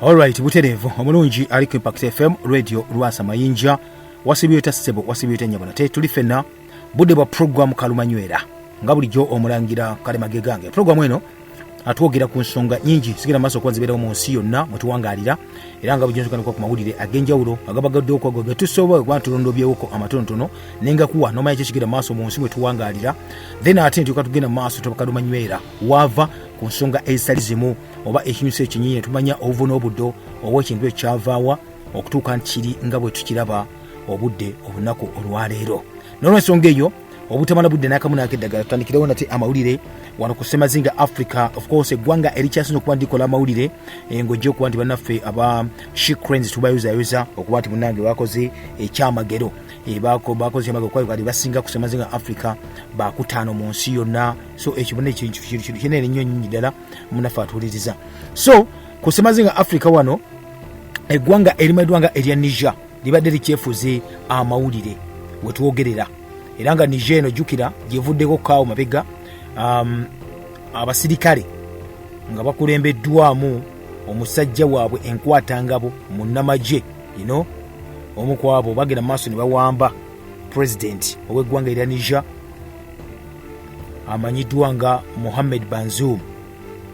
Alright, butereevu omulungi ali ku Impact FM radio Lwasa Mayinja wasibye ta ssebo wasibye ta nyabona te tuli fenna budde bwa program kalumanywera nga bulijjo omulangira kale magegange program eno atwogera ku nsonga nyingi sigenda maaso okuba zibeerawo mu nsi yonna mwe tuwangalira era nga bujonsokanikwa ku mawulire ag'enjawulo agabagadde okwago ge tusobola okuba tulondobyewoko amatonotono nengakuwa nomanya kyekigenda maaso mu nsi mwe tuwangalira then ate ntuuka tugenda maaso tobakalumanywera waava ku nsonga ezitali zimu oba ekinyusi ekinyinyi tumanya obuvu n'obuddo oba ekintu ekyavaawa okutuuka nti kiri nga bwe tukiraba obudde olunaku olwaleero nolwensonga eyo obutamala budde nakamu nakeddagala tutandikirewo nate amawulire wano ku semazinga africa ofcourse eggwanga erikyasinza okuba ndikola amawulire eh, ngaojja okuba nti banaffe aba shicrens tubayozayoza okuba nti munange bakoze ekyamagero eh, bakoze amagero kuba bali basinga ku semazinga africa bakutaano mu nsi yonna so ekibona ekintu kinene nnyo nyinyi ddala munafe atuwuliriza so ku semazinga africa wano eggwanga erimanyiddwa nga erya niger libadde likyefuze amawulire wetwogerera era nga niger eno jjukira gyevuddeko kaawo mabega um, abasirikale nga bakulembeddwamu omusajja waabwe enkwatangabo munnamagye ino omu kwabo bagenda mu maaso ne bawamba pulezidenti ow'eggwanga erya niger amanyiddwa nga muhammed banzum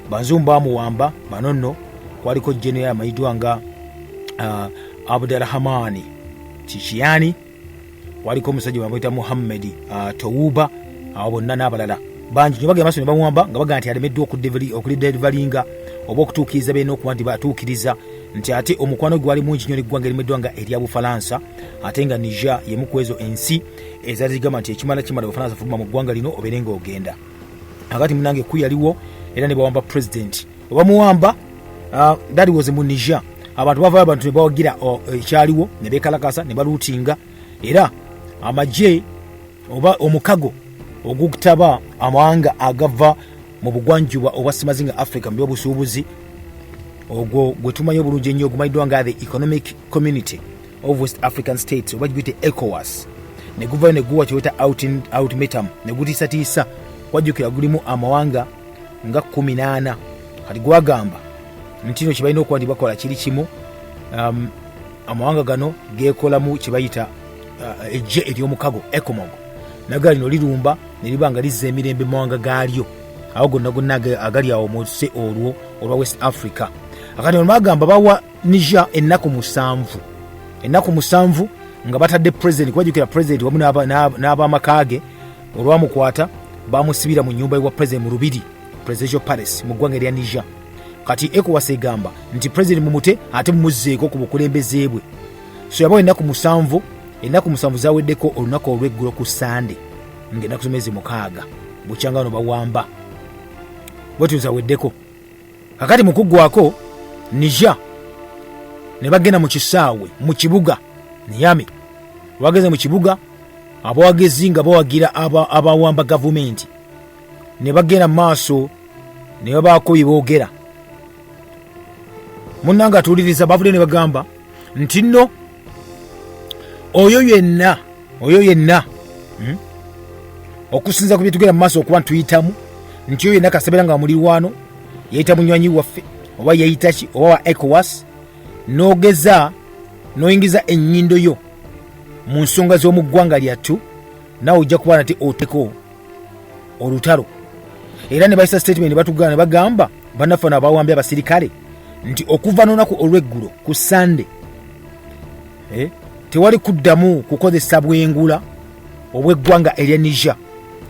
banzum bamuwamba bano nno kwaliko general amanyiddwa nga uh, abdurahamaani kikiyani waliko omusajja bamwita muhammedi uh, towuba awo bonna n'abalala bangi nyo bagenda maso ne bamuwamba nga bagamba nti alemeddwa okulidelvalinga oba okutuukiriza beena okuba nti batuukiriza nti ate omukwano gwali mungi nyo neggwanga erimeddwa nga erya bufalansa ate nga niger yemukwezo ensi ezazigamba nti ekimala kimala bafana zafuluma mu ggwanga lino obeere nga ogenda akati munange ku yaliwo era ne bawamba president obamuwamba uh, that was mu niger abantu bavayo abantu nebawagira uh, ekyaliwo ne bekalakasa ne baluutinga era amagye oba omukago ogutaba amawanga agava mu bugwanjuba obwa semazinga africa mu byobusuubuzi ogwo gwe tumanyi obulungi ennyo ogumanyiddwa nga the economic community of west african states oba giguyite ecowas ne guvayo ne guwa kyeweta outmetum ne gutiisatiisa wajjukira gulimu amawanga nga kumi naana kati gwagamba nti no kyebalina okuba nti bakola kiri kimu um, amawanga gano gekolamu kyebayita uh, ejje eryomukago ecomog naga lino lirumba neriba nga lizza emirembe mumawanga gaalyo awo gonna gonna agali awo munsi olwo olwa west africa akati olumagamba bawa Niger ennaku musanvu ennaku musanvu nga batadde president kubajukira president wamu n'abamaka ge olwamukwata bamusibira mu nyumba ewa president mu lubiri presidential palace mu ggwanga erya Niger kati ECOWAS egamba nti president mumute ate mumuzzeeko ku bukulembeze bwe so yabawo ennaku musanvu ennaku musanvu zaweddeko olunaku olw'eggulo ku sande ng'ennaku zomezi mukaaga bukyanga bano bawamba bwetyo zaweddeko kakati mukuggwako nija ne bagenda mu kisaawe mu kibuga niyami bageze mu kibuga abawagizi nga bawagira abawamba gavumenti ne bagenda maaso ne babaako bye boogera munna nga atuuliriza bavudde ne bagamba nti nno oyo yenna oyo yenna hmm? okusinza ku byetugenda mu maaso okuba ntuyitamu nti oyo yenna kasebeera nga mulirwano yayita munywanyi waffe oba yayitaki oba wa ecowas nogeza noyingiza enyindo yo mu nsonga z'omu ggwanga lyattu nawe ojja kuba nate oteko olutalo era ne bayisa statement batugana ne bagamba banaffe nabawambye abasirikale nti okuva nonaku olweggulo ku sande eh, tewali kuddamu kukozesa bwengula obweggwanga erya niger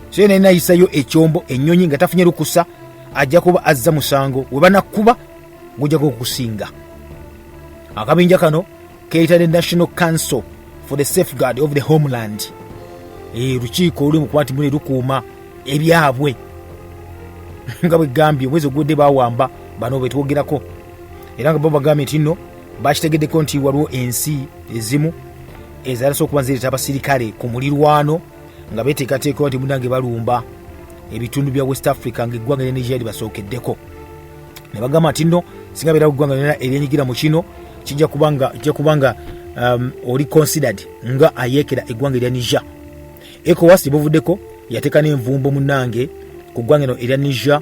so yena enayisayo ekyombo enyonyi nga tafunye lukusa ajja kuba azza musango webanakuba gujja kukusinga akabinja kano keyita the national council for the safeguard of the homeland eh, lukiiko oluli mukwati mune lukuuma ebyabwe nga bwegambye omwezi ogudde bawamba bano betwogerako era nga babagambye nti nno bakitegeddeko nti waliwo ensi ezimu ezalasa okuba nzireeta abasirikale ku mulirwano nga beteekateekawo nti munange balumba ebitundu bya west africa ngaeggwanga lya nigeria libasookeddeko ne bagamba nti nno singa beera eggwanga lyona eryenyigira mu kino kijja kuba nga um, oli considered nga ayeekera eggwanga erya niger ecowas gye buvuddeko yateeka n'envumbo munange ku ggwanga eno erya niger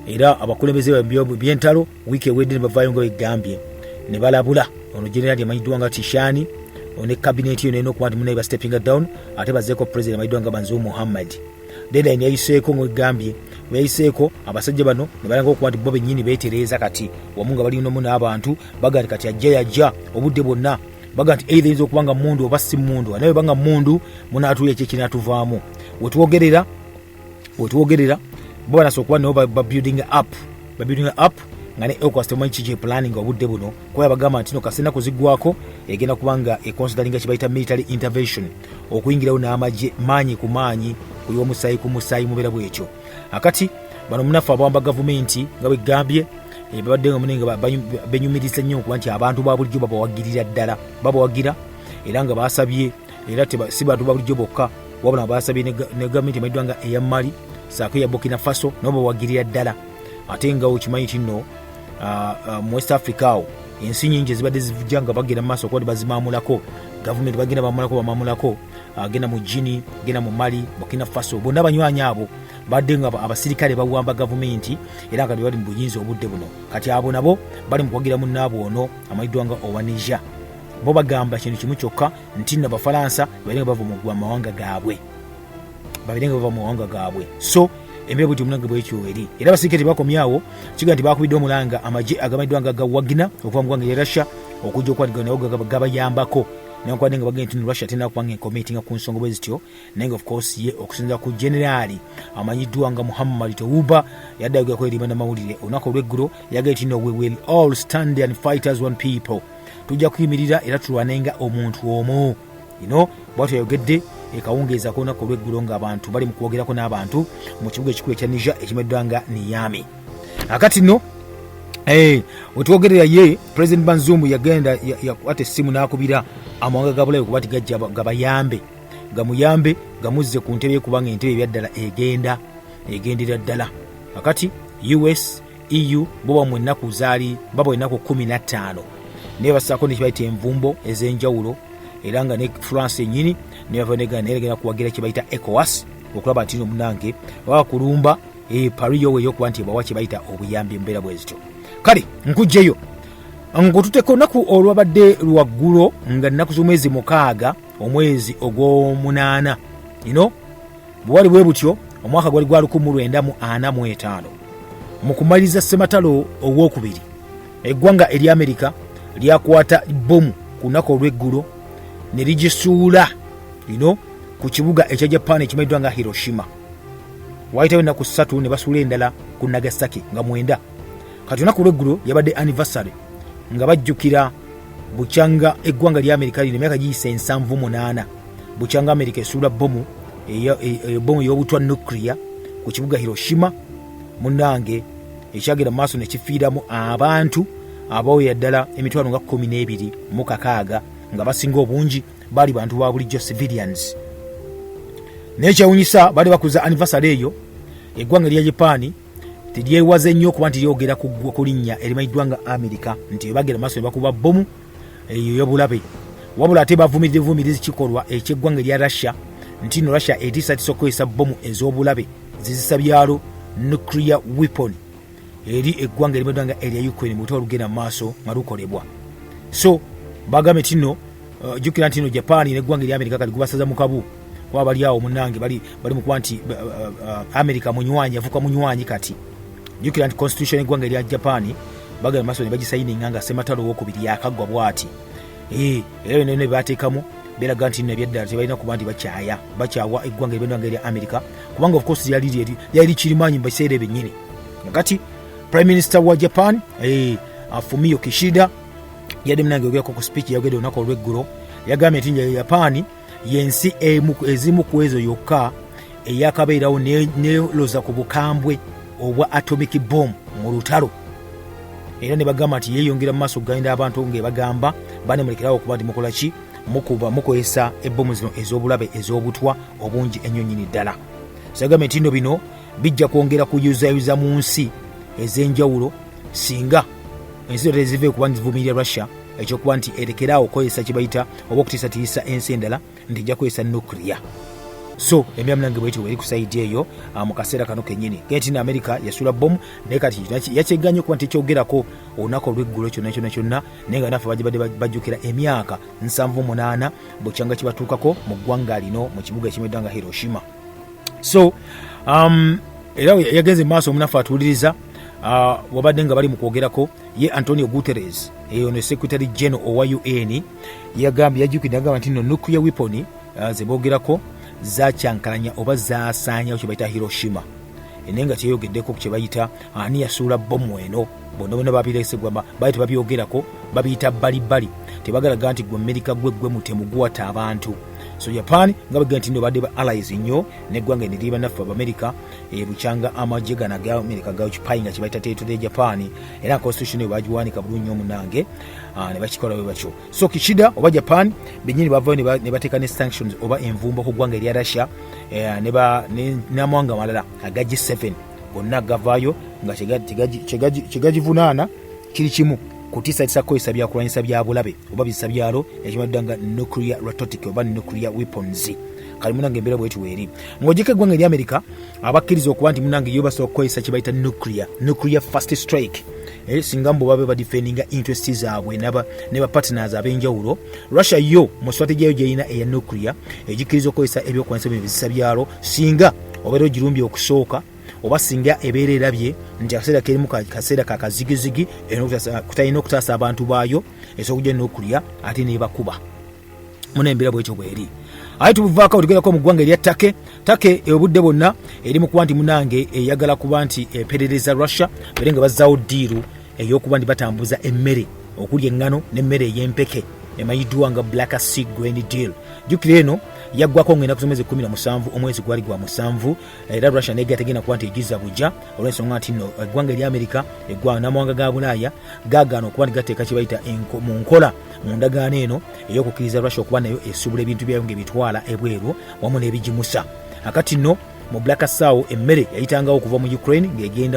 era abakulembeze byentalo wiiki ewedde ne bavaayo nga begambye ne balabula ono generali amanyiddwa nga tishani ne kabineeti yo nayina okuba nti munaye bastepinga down ate bazeeko president amanyiddwa nga banziwo muhammadi deadline yayiseeko mwegambye yayiseeko abasajja bano nebalanga okuba nti bo benyini betereeza kati wamu nga balinamu n'abantu baga nti kati ajja yajja obudde bwonna baga nti eitha yinza okuba nga mundu oba si mundu anaye banga mundu munatuula ekyo ekinatuvaamu wetwogerera wetwogerera bo banasa okuba nabo babuilding up babuilding up nga ne ecowas temumanyi kiki planning obudde buno kuba yabagamba nti no kasena kuzigwako egenda kuba nga econsideringa kyebayita military intervention okuyingirawo n'amagye maanyi ku maanyi kuliwa musaayi ku musaayi mubeera bwekyo akati bano munaffe abawamba gavumenti nga bwegambye eh, babadde nga mune nga benyumiriza nnyo okuba nti abantu ba bulijjo babawagirira ddala babawagira era nga basabye era si bantu ba bulijjo bokka wabula basabye ne gavumenti emaiddwa nga eya mali saako eya burkina faso nabo bawagirira ddala ate nga okimanyi kinno uh, uh, mu west africa awo ensi nyingi ezibadde zija nga bagenda mumaaso kuba bazimamulako gavumenti bagenda bamulako bamamulako agenda ah, mu gini genda mu mali burkina faso bonna abanywanyi abo badde nga abasirikale bawamba gavumenti era nga bali mu buyinza obudde buno kati abo nabo bali mu kuwagira munnaabwe ono amanyiddwa nga owa niger bo bagamba kintu kimu kyokka nti nabafalansa balinga bava mu mawanga gaabwe babere nga bava mu mawanga gaabwe so embeera bwetyo omunange bwekyo eri era abasirikale tebakomyawo kiga nti bakubidde omulanga amagye agamanyiddwa nga gawagina okuva mu gwanga lya russia okujja okwatigana nawo gabayambako newankubadde nga bagenda tino russia tena kubanga enkomitinga ku nsonga bwe zityo naye nga ofcourse ye okusinza ku generaali amanyiddwa nga muhammad tewuba yadde ayogerako eri banamawulire olunaku olweggulo yagee tino we will all stand and fighters one people tujja kuyimirira era tulwanenga omuntu omu ino bwatyo yayogedde ekawungeeza k'olunaku olw'eggulo ng'abantu bali mu kwogerako n'abantu mu kibuga ekikulu ekya nija ekimeddwa nga niyami akati no eh, wetwogerera ye president banzumbu yagenda yakwata essimu n'akubira amawanga ga bulabe kuba ti gajja gabayambe gamuyambe gamuzze ku ntebe kubanga entebe ebyaddala egenda egendera ddala akati us eu bo bamwe ennaku zaali baba ennaku kumi na ttaano naye basaako nekibayita envumbo ez'enjawulo era nga ne france enyini nebavanegana naye egenda kuwagira kyebayita ecowas okulaba nti no munange baba kulumba eh, pari yowe eyokuba nti ebawa kyebayita obuyambi embeera bwezityo kale nkugjeyo ngotuteka olunaku olwabadde lwaggulo nga nnaku z'omwezi mukaaga omwezi ogw'omunaana ino Bwewali bwe butyo omwaka gwali gwa 1945 mu kumaliriza ssematalo ow'okubiri eggwanga erya amerika lyakwata bbomu ku lunaku olw'eggulo ne ligisuula lino ku kibuga ekya japan ekimanyiddwa nga hiroshima waayitawo ennaku ssatu ne basuula endala ku nagasaki nga mwenda kati olunaku lw'eggulo yabadde anniversary nga bajjukira bukyanga eggwanga lya amerika lino emyaka giyisa ensanvu munaana bukyanga amerika esuula bomu ebomu e, e, ey'obutwa nuclear ku kibuga hiroshima munange ekyagenda mu maaso nekifiiramu abantu abaoya ddala emitwalo nga kumi n'ebiri mu kakaaga nga basinga obungi baali bantu ba bulijjo civilians naye kyewunyisa baali bakuza anivasale eyo eggwanga erya japaani Teryewaze nnyo kuba nti lyogera ku ggwa ku linnya erimanyiddwa nga Amerika nti bagera maaso ne bakuba bbomu eyo yobulabe wabula ate bavumirira vumirizi kikolwa eky'eggwanga erya Russia nti no Russia etiisatiisa okukozesa bbomu ez'obulabe zizisa byalo nuclear weapon eri eggwanga erimanyiddwa nga erya Ukraine mu lutalo lugenda mu maaso nga lukolebwa so bagambye nti no Uh, jukira nti no japan neggwanga erya amerika kati gubasaza mukabu kuba bali awo munange bali bali mukuba nti uh, uh, amerika munywanyi avuka munywanyi kati jukira nti constitution eggwanga erya japan bagala maso nebagisayininga nga sematalo owokubiri yakaggwa bwati eh, era byona byona byebateekamu beraga nti nebyeddala tebalina kuba nti bakyaya bakyawa eggwanga eryonanga erya amerika kubanga ofcourse lyali kirimanyi mubiseera ebyennyini kati prime minister wa japan eh, afumio kishida yadde munange ogerako ku speech yagede olunaku olweggulo yagambye nti njayo yapaani yensi ezimu ku ezo yokka eyakabeerawo neloza ku bukambwe obwa atomic bom mu lutalo era ne bagamba nti yeeyongera mu maaso okuganyira abantu ngaebagamba banemulekerawo okuba nti mukola ki mukuba mukozesa ebbomu zino ez'obulabe ez'obutwa obungi ennyo nyini ddala sagambye nti no bino bijja kwongera kuyuzayuza mu nsi ez'enjawulo singa ensi zonna tezive kuba nzivumirira russia ekyokuba nti erekere awo okukozesa kyebayita oba okutiisatiisa ensi endala nti ejja kukozesa nuclear so emiramu nange bwetyo weri kusaidi eyo ah, mu kaseera kano kenyini genti na amerika yasula bomu naye kati yakyeganye okuba nti kyogerako olunaku olweggulo kyonna kyonna kyonna naye nga nafe bagibadde bajjukira emyaka nsanvu munaana bukyanga kibatuukako mu ggwanga lino mu kibuga ekimedda nga hiroshima so um, era yagenze maaso omunafu atuwuliriza uh, wabadde nga bali mu kwogerako ye antonio guteres eyo ne secretary general owa un yagambye yajukidde agamba nti no nuclear weapon uh, zebogerako zakyankalanya oba zasaanyawo kyebayita hiroshima naye nga kyeyogeddeko kyebayita ani yasuula bomu eno bona bona babiresegwama bali tebabyogerako babiyita bbalibbali tebagalaga nti gwe amerika gwe gwe mutemu guwata abantu so japan nga bagenda nti nobadde ba allies nnyo neggwanga eneri banaffe abamerica ebukyanga eh, amagye gana ga amerika gakipayi nga kyebayita teritode ya japan era constitution eyo bagiwanika bulungi nyo munange ah, ne bakikola bwe batyo so kishida oba japan benyini bavayo ne bateeka ne sanctions oba envumbo ku ggwanga erya russia eh, n'amawanga amalala aga g7 gonna gavaayo nga kyegagivunaana kiri kimu kutiisatiisa kukozesa byakulwanyisa bya bulabe oba bizisa byalo ekimadda nga nuclear rototic oba nuclear weapons kali munange embeera bweti weeri ng'ogyeko eggwanga eri amerika abakkiriza okuba nti munange yo basobola kukozesa kye bayita nuclear nuclear fast strike eh, singa mbu babe badifendinga interest zaabwe ne bapartners ab'enjawulo russia yo mu strategy yo gyerina eya nuclear egikkiriza okukozesa ebyokulwanyisa bino bizisa byalo singa obeera ogirumbye okusooka oba singa ebeera erabye nti akaseera kerimu kaseera kakazigizigi kutalina okutaasa abantu baayo esobola okujja nokulya ate nebakuba muna embeera bwekyo bweri aye tubuvaako tugerako mu ggwanga erya take take obudde bwonna eri mu kuba nti munange eyagala kuba nti eperereza russia bere nga bazzaawo diiru ey'okuba nti batambuza emmere okuli eŋŋano n'emmere ey'empeke emanyiddwa nga black sea grain deal jjukira eno yaggwako ngenda ku somezi kumi na musanvu omwezi gwali gwa musanvu era russia naye gategenda kuba nti egiza bujja olw'ensonga nti no eggwanga erya amerika eggwanga n'amawanga ga bulaaya gagaana okuba nti gateeka kye bayita mu nkola mu ndagaano eno ey'okukkiriza russia okuba nayo esuubula ebintu byayo ng'ebitwala ebweru wamu n'ebigimusa akati no mu blakasawo emmere yayitangawo okuva mu ukraine ng'egenda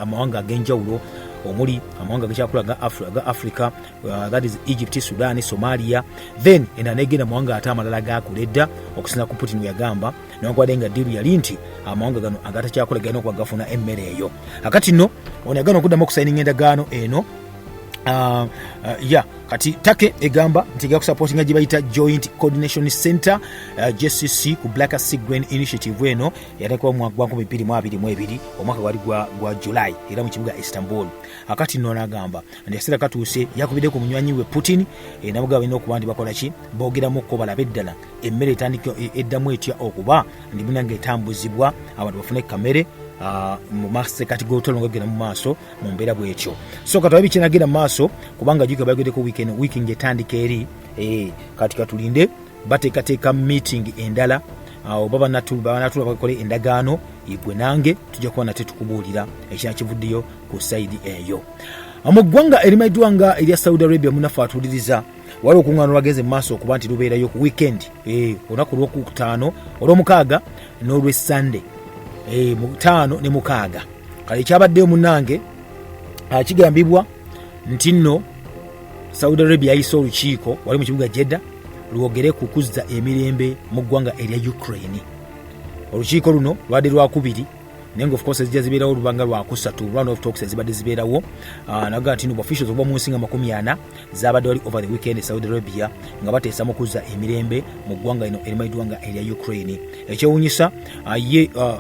amawanga ag'enjawulo omuli amawanga gakyakula ga africa uh, that is egypt sudan somalia then enda negenda mawanga ate amalala gakula edda okusinza ku putin weyagamba newankubadde nga diru yali nti amawanga gano agatakyakula galina okuba gafuna emmere eyo akati no ono yagana okuddamu okusayininga endagaano eno uh, uh, ya kati take egamba nti ega kusapotinga gye bayita joint coordination center uh, eh, jcc ku black sea grain initiative eno yateekawo omwaka gwa 2022 omwaka gwali gwa, gwa july era mu kibuga istanbul akati nno nagamba nti akaseera katuuse yakubidde ku munywanyi we putin eh, nabuga balina okuba nti bakola ki boogeramukko balabe ddala emmere etandika eh, eddamu etya okuba ndi munange etambuzibwa abantu bafune kamere uh, mu masekati g'otolongo genda mu maaso mu mbeera bwetyo so katulabe kinagenda mu maaso kubanga jukira bayogeddeko weekend wiiki ngaetandika eri eh, kati katulinde bateekateeka meeting endala awo baba banatula bakola endagaano igwe nange tujja kuba nate tukubuulira ekina kivuddeyo ku saidi eyo mu ggwanga erimanyiddwa nga erya saudi arabia munafe atuuliriza waliwo olukuŋŋaana lwagenze mu maaso okuba nti lubeerayo ku weekend eh, olunaku lwokutaano olwomukaaga n'olwessande eh, mutaano ne mukaaga kale ekyabaddeyo munange ah, kigambibwa nti nno saudi arabia yayise olukiiko wali mu kibuga jedda lwogere ku kuzza emirembe mu ggwanga erya ukraine olukiiko luno lwade lwakubiri naye nga ofcourse ezija zibeerawo olubanga lwakusatu run of talks ezibadde zibeerawo ah, naga nti nobu officials okuba mu nsi nga makumi ana zabadde wali over the weekend e saudi arabia nga bateesa mu kuzza emirembe mu ggwanga lino erimanyiddwa nga erya ukraine ekyewunyisa ah, ye ah,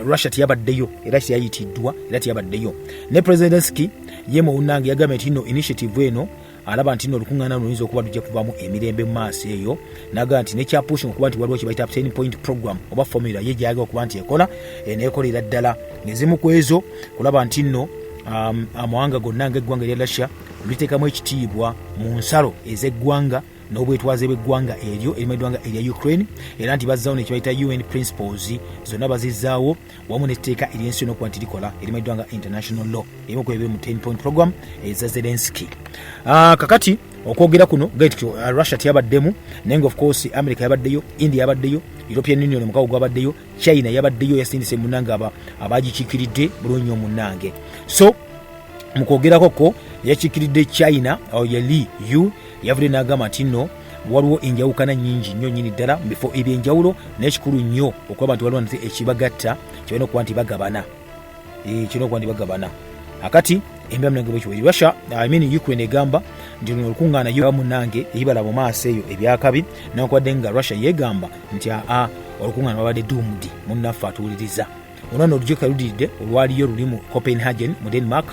russia teyabaddeyo era teyayitiddwa era teyabaddeyo ne president zelenski ye muwunange yagambye nti no initiative eno alaba nti nolukuŋŋaana luno luyinza okuba lujja kuvamu emirembe mu maaso eyo naga nti nekyapushinga okuba nti waliwo kyebayita ten point program oba formula ye gyayagala okuba nti ekola eh, nekolera ddala ezimu ku ezo kulaba nti nno um, amawanga gonna ngaeggwanga erya russia liteekamu ekitiibwa mu nsalo ez'eggwanga n'obwetwaze bw'eggwanga eryo erimu eggwanga erya ukraine era nti bazzaawo nekyebayita un principles zonna bazizaawo wamu n'etteeka ery'ensi yona okuba nti likola erimanyiddwa nga international law emu ku ebiri mu 10 point program eza eh, zelenski ah, kakati okwogera kuno gati uh, russia teyabaddemu naye nga ofcourse america yabaddeyo india yabaddeyo european union omukago gwabaddeyo china yabaddeyo yasindise munange abagikikiridde bulungi nyo munange so mukwogerako ko yakikiridde china oh, yali u yavudde nagamba nti no waliwo enjawukana nyingi nnyo nyini ddala mu bifo ebyenjawulo naye kikulu nnyo okuba abantu baliwo nti ekibagatta kibalina okuba nti bagabana eh, kirina okuba nti bagabana akati russia I mean ukraine egamba nti luno olukuŋŋaana yo munange eyibala mu maaso eyo ebyakabi newankubadde nga russia yeegamba nti aa olukuŋŋaana babadde dumdi munnaffe atuwuliriza ono no olujjukira ludiridde olwaliyo luli mu copenhagen mu denmark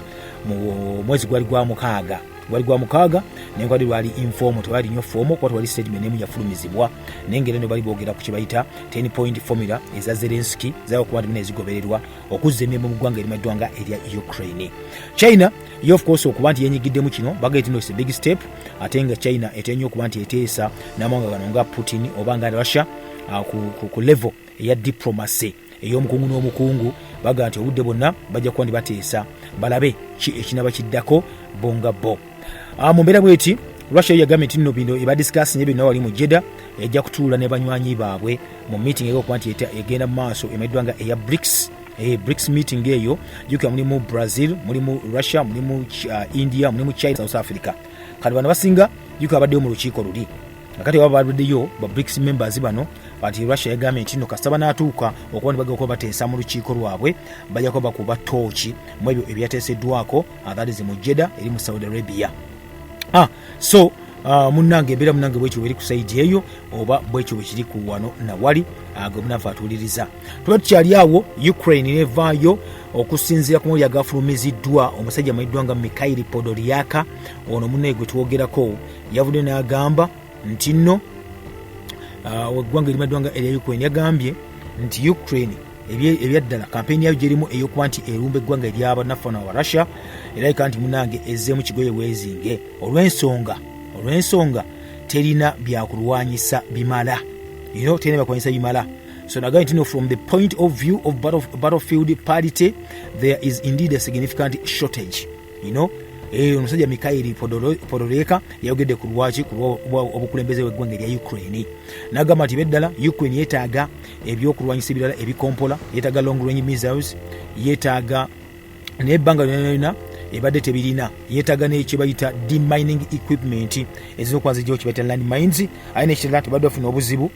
mu mwezi gwali gwa mukaaga gwali gwa mukaaga naye gwali lwali informo tewali nyo fomu kuba tewali statement emu yafulumizibwa naye ngeri no bali boogera ku kyebayita 10 point formula eza zelenski zaokuba ntimina ezigobererwa okuzza emirimu mu ggwanga erimaddwa nga erya ukraine china yo of course okuba nti yenyigiddemu kino bagee tino is a big step ate nga china etenyo okuba nti eteesa n'amawanga gano nga putin oba nga russia uh, ku, ku, ku level eya diplomacy ey'omukungu n'omukungu baga nti obudde bwonna bajja kuba ndibateesa balabe ki ekinaba kiddako bo nga bo ah, mu mbeera bweti russia yagambye nti nno bino ebadiscasi nye byonna wali mu jeda ejja kutuula ne banywanyi baabwe mu meeting eyokuba nti egenda mu maaso emanyiddwa nga eya brics eh, brics meeting eyo jukira mulimu brazil mulimu russia mulimu uh, india mulimu china south africa kati bano basinga jukira abaddeyo mu lukiiko luli nakati waba baluddeyo ba brics members bano kati russia yagambye nti no kasita banaatuuka okuba nebagakuba bateesa mu lukiiko lwabwe bajja kuba bakuba tooki mu ebyo ebyateeseddwako atharizi mu jeda eri mu saudi arabia ah, so uh, munange embeera munange bwekyo bweri ku saidi eyo oba bwekyo bwekiri ku wano nawali ah, gwe munanfe atuwuliriza tuba tukyali awo ukraine nevaayo okusinziira ku mawulire agafulumiziddwa omusajja amanyiddwa nga mikhaili podoliaka ono munaye gwe twogerako yavudde n'agamba nti nno ah, weggwanga erimaddwanga erya ukraine yagambye nti ukraine ebyaddala kampeyini yayo gyerimu eyokuba nti erumba eggwanga eryabanafana wa russia erabika nti munange ezzeemu kigoye weezinge olwensonga olwensonga terina byakulwanyisa bimala ino terina byakulwanyisa bimala So now going to know from the point of view of battlefield parity, there is indeed a significant shortage. you know eh, omusajja mikairi podoreka yayogedde ku lwaki obukulembeze weggwanga erya ukraine nagamba nti beddala ukraine yetaaga ebyokulwanyisa ebirala ebikompola yetaaga long range missiles yetaaga nebbanga lyonayona ebadde tebirina yetaga nekyebayita demining equipment ezizokwazijawo kyebayita land mines aye nekirala tebadde bafuna obuzibu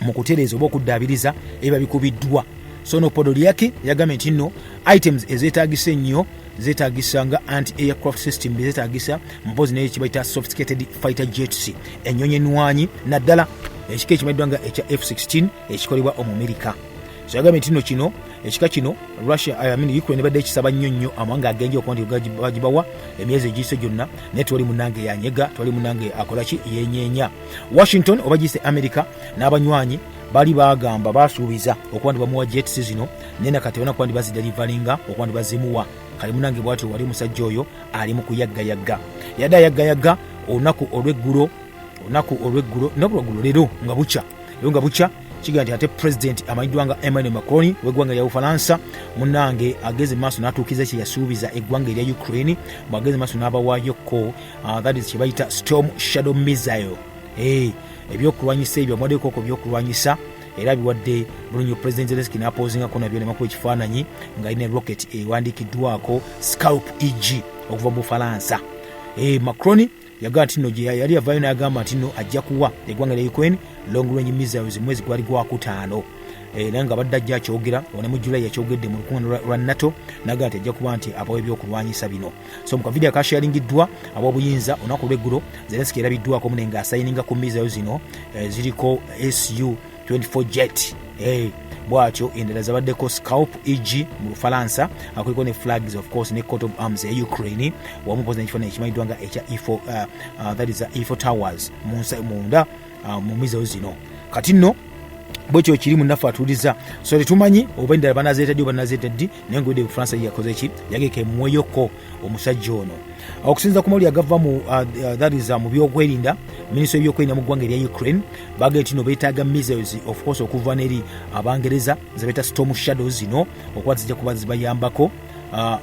mu kutereeza oba okuddaabiriza ebiba bikubiddwa so no podolyaki yagambye nti nno items ezeetagisa ennyo zeetagisa nga anti aircraft system bezeetagisa mpozi naye kibaita sophisticated fighter jets ennyonyi enwanyi naddala ekika ekimanyiddwa nga ekya f16 ekikolebwa omumerika so yagambye nti nno kino ekika kino russia eh, amin ukraine ebadde ekisaba nnyo nnyo amawanga agenja okuba nti bagibawa emyezi egiyise gyonna naye twali munange yanyega twali munange akolaki yenyenya washington oba giyise america n'abanywanyi bali bagamba basuubiza okuba ndibamuwa jets zino naye nakati bona kuba ndibazidelivalinga okuba ndibazimuwa kali munange bwati wali omusajja oyo ali mu kuyaggayagga yadde ayaggayagga olunaku olweggulo olunaku olweggulo naku lweggulo leero nga bukya leero nga bukya kiga nti ate pulezidenti amanyiddwa nga emmanuel macron w'eggwanga lya bufalansa munange ageze maaso n'atuukiza kye yasuubiza eggwanga erya ukraine bw'ageze maaso n'abawaayo ko uh, that is kyebayita storm shadow missile hey, eh, ebyokulwanyisa ebyo amuwaddekoko byokulwanyisa era biwadde bulunyo president zelenski napoozingako nabyo nemakuba ekifaananyi nga alina rocket ewandiikiddwako scalp eg okuva mu bufalansa hey, eh, macroni yagamba nti no gyeyali yavayo nagamba nti no ajja kuwa egwanga lya ukraine long range missiles mwezi gwali gwakutaano era eh, nga badde ajja akyogera onemujulayi yakyogedde mu lukuŋano lwa nato naga nti ajja kuba nti abawa ebyokulwanyisa bino so mu kavidiyo akasharingiddwa ab'obuyinza olunaku lw'eggulo zelenski erabiddwako mune nga asayininga ku mizayo zino eh, ziriko su 24 jet eh, bwatyo endala zabaddeko scalp eg mu lufalansa akuliko ne flags of course ne court of arms eya ukraine wamu pozi nekifaananyi ekimanyiddwa nga ekya e uh, uh, that is uh, e towers munda ah, mu mizewo zino kati nno bwekyo kiri munaffe atuuliza so tetumanyi oba endala banazeeta ddi oba nazeeta ddi naye ngaode bufaransa yakoze ki yageka emweyoko omusajja ono okusinza ku mawulire agava mu uh, uh, thariza uh, mu byokwerinda minisita webyokwerinda mu ggwanga erya ukraine bagee tino betaaga missiles of course okuva neri abangereza zebeta storm shadow zino okuba zijja kuba zibayambako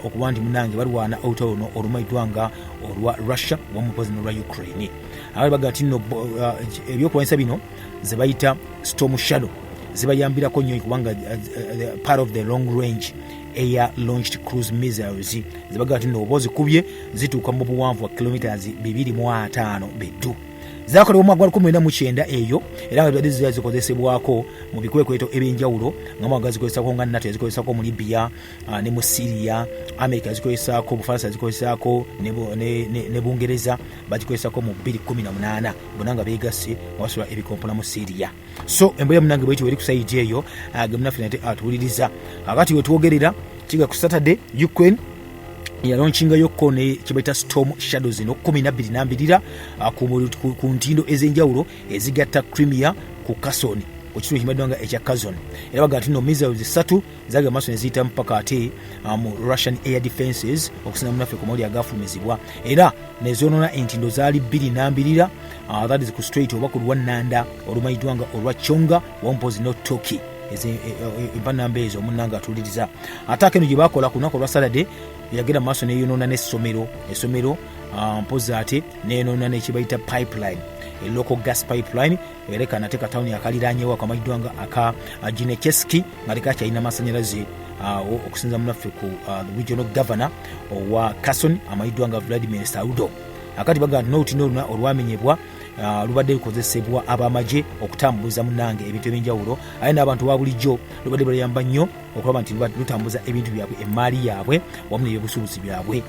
okuba nti munange balwana olutalo luno olumaidwa nga olwa russia wamupozi nolwa ukraine abali baga ti no uh, ebyokulwanyisa bino zebayita storm shadow zibayambirako nnyo kubanga uh, uh, part of the long range air launched cruise missiles zebaga ti nooba ozikubye zituuka mu buwanvu wa kilometres 245 beddu zakolebwa mwaka gwa 19 eyo era nga zibadde zizikozesebwako mu bikwekweto ebyenjawulo nga mwaka gazikozesako nga nato yazikozesako mu libya ah, ne mu syria america yazikozesaako obufaransa yazikozesaako ne bungereza bagikozesaako mu 218 bona nga begasse wasobola ebikompona mu syria so emboya munange bwekyo weri kusaiji eyo ah, gemunaffe nate atuwuliriza ah, kakati wetwogerera kiga ku saturday ukraine yalonkingayokuko ne kyebaita storm shadows eno kumi nabbiri nambirira ah, ku ntindo ez'enjawulo ezigatta crimea ku kasoni ku kitundu kimaddwa nga ekya kazon era baga nti no missiles ssatu zali amaaso neziyitamu paka ate ah, mu russian air defenses okusinga munaffe ku mawuli agafulumizibwa era nezonona entindo zaali bbiri nambirira ah, that is ku straight oba ku lwannanda olumanyiddwa nga olwa chonga wampozi no toki empanamba e, e, e, ezo omunanga atuliriza ate akeno gye bakola ku lunaku olwa saturday yagenda maaso neyonona nesomero esomero ah, mpozi ate neyonona nekibayita pipeline elocal gas pipeline era eka nate katawuni akaliranyewo akamanyiddwa nga aka uh, ginecheski nga leka kyalina amasanyalaze uh, okusinza munaffe ku uh, regional governor owa cason amanyiddwa nga vladimir saudo akati bagamba nti nolutini oluna olwamenyebwa Ah, lubadde lukozesebwa abamagye okutambuza munange ebintu ebyenjawulo aye n'abantu ba bulijjo lubadde baluyamba nnyo okulaba nti lutambuza ebintu byabwe emmaali yaabwe wamu nebyobusuubuzi byabwe